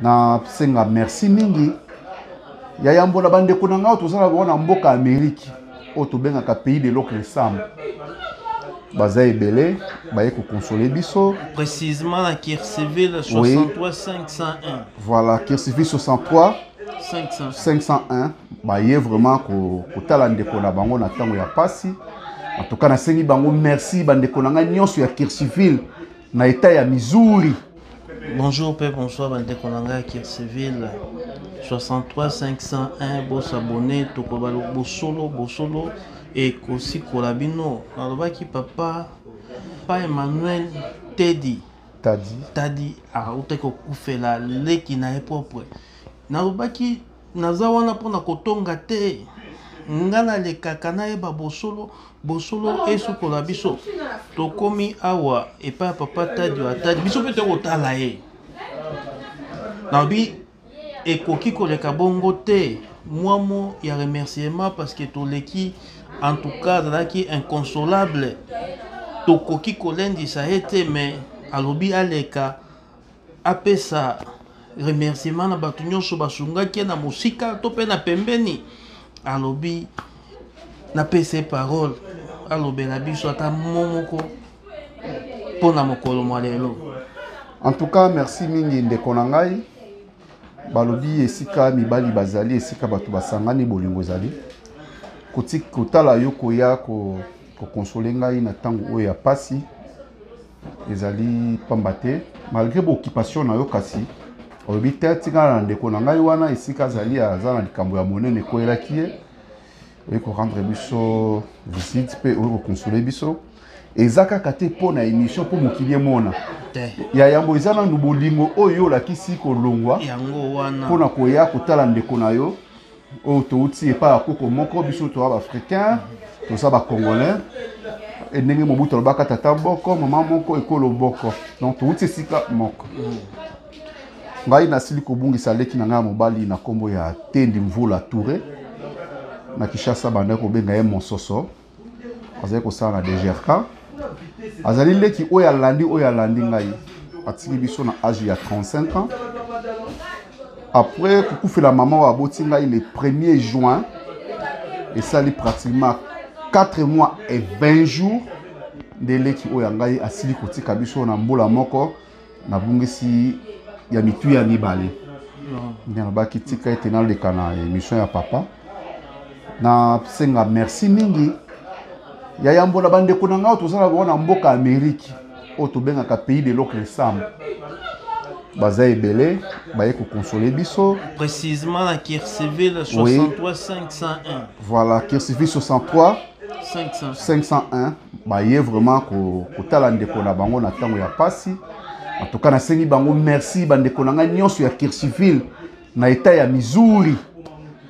nasenga merci mingi ya yambo na bandeko na ngai tozalaka oyo na mboka ameriki oyo tobengaka pays de l'autre ensemble baza ebele baye kokonsole biso précisement na kirciville 63 501 voilà kirciville 63 500. 501 baye vraiment kotala ndeko na bango na ntango ya mpasi en tout cas nasengi bango merci bandeko na ngai nyonso ya kirciville na etat ya Missouri. Bonjour pe bonsoir bandeko na ngai ya civil 63 501 bosabone tokoba bosolo bosolo ekosikola bino nalobaki papa pa emmanuel tedi tadi tadi autaki kokufela leki na ye propre nalobaki Naza wana mpo na kotonga te. Nga nalekaka nayeba bosolo, bosolo esukola biso. Tokomi awa epai ya papa Tadio Atadi, biso mpe toyei kotala ye. Nalobi ekoki koleka bongo te, mwa mo ya remerciement parce que toleki, en tout cas azalaki inconsolable, tokoki kolendisa ye te, mais alobi aleka. apesa remerciement na bato nyonso basungaki ye na mosika to mpe na pembeni alobi napesa ye parole alobela biso ata mo moko mpo na mokolo mwa lelo en tout cas merci mingi ndeko na ngai balobi esika mibali bazali esika bato basangani bolingo ezali kotala yo koya kokonsole ngai na ntango oyo ya mpasi ezali pamba te malgré baoccupation na yo kasi olobi te tikala na ndeko na ngai wana esika azali aza na likambo ya monene ekweyelaki ye oye korendre biso visite mpe oye kokonsole biso eza kaka te mpo na émission mpo mokili emona ya yambo eza nanu bolingo oyo olakisi kolongwa mpo na koya kotala ndeko na yo oyo touti epai ya koko moko biso toa baafricain toza bacongolais e ndenge mobutu alobaka tata boko mama moko ekolo boko donc touti esika moko ngai nasili kobungisa leki na ngai ya mobali na nkombo ya tendi mvula toure na kishasa bandaki kobenga ye mososo azali kosala na dgrk azali leki oyo alandi oyo alandi ngai atiki biso na age ya 35 ans après kokufela mama oyo aboti ngai le 1er juin esali pratiquement 4 mois et 20 jours nde leki oyo ya ngai asili kotika biso na mbula moko nabungisi ya mitu ya mibale nde nalobaki tika ete naleka na émission ya papa nasenga merci mingi ya yambo na bandeko na ngai tozala bango na mboka amerike oyo tobengaka pays de l'autre ensemble baza ebele baye kokonsole biso précisement na kirciville 63 501 voilà kirciville 63 501 baye vraiment kotala ndeko na bango na ntango ya mpasi en tout cas nasengi bango merci bandeko na ngai nyonso ya kirsiville na etat ya missouri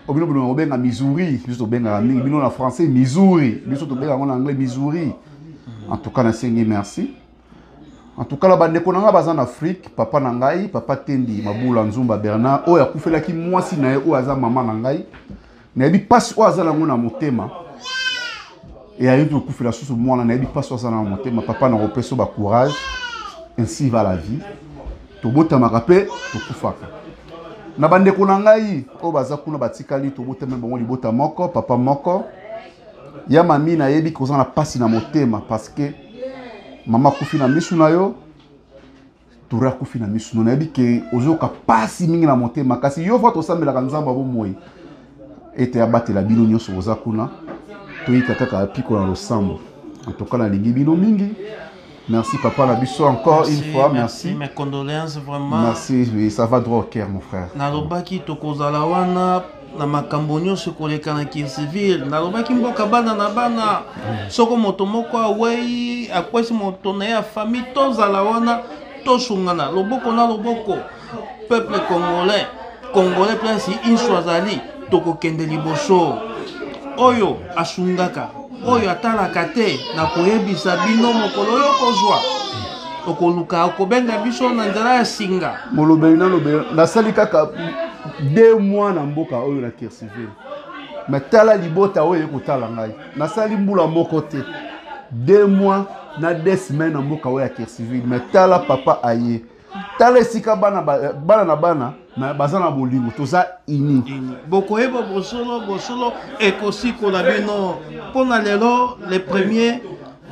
obino bino kobenga missouri biso tobengaka mingi bino na français missouri biso tobengaka yango na anglais missouri en tout cas nasengi merci en tout cas na bandeko na ngai baza na afrique papa na ngai papa tendi mabula nzumba bernard oyo akufelaki mwasi na ye oyo aza mama na ngai nayebi mpasi oyo aza nango na motema eyayebi kokufela susu mwana nayebi mpasi oyo aza na motema papa na kopesa yo bacourage ainsi va la vie tobotamaka mpe tokufaka na bandeko na ngai oyo baza kuna batikali tobotami bango libota moko papa moko ya mami nayebi koza na mpasi na motema parce que mama akufi na misu na yo tura kufi na misu no nayebi ke ozoyoka mpasi mingi na motema kasi yo va tosambelaka nzambe ya bomoi ete abatela bino nyonso boza kuna toyika kaka apiko na losambo antoka nalingi bino mingi merci papa na biso encore merci, une fois merci, merci. mes condoléances vraiment merci oui, ça va droit au cœur mon frère nalobaki tokozala wana na makambo nyonso koleka na kirsiville nalobaki mboka bana na bana soko moto moko awei akwesi moto na ye ya famille tozala wana tosungana loboko na loboko peuple congolais congolais place inso azali tokokende liboso oyo asungaka oyo atalaka te na koyebisa bino mokolo yo kozwa okoluka okobenga biso na nzela ya singa molobeli nalobeli nasali kaka de mois na mboka oyo na kirsive me tala libota oyo eye kotala ngai nasali mbula moko te de mois na de semaine na mboka oyo ya kirsivile me tala papa aye tala esika bana eh, bana na bana me baza na bolingo toza ini bokoyeba bosolo bosolo ekosikola bino mpo na lelo le premier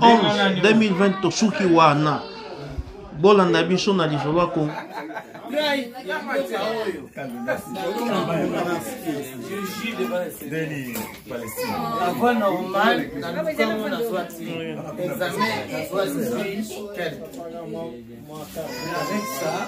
11 2020 tosuki wana bolanda biso na lisolo ya kongo Avec ça,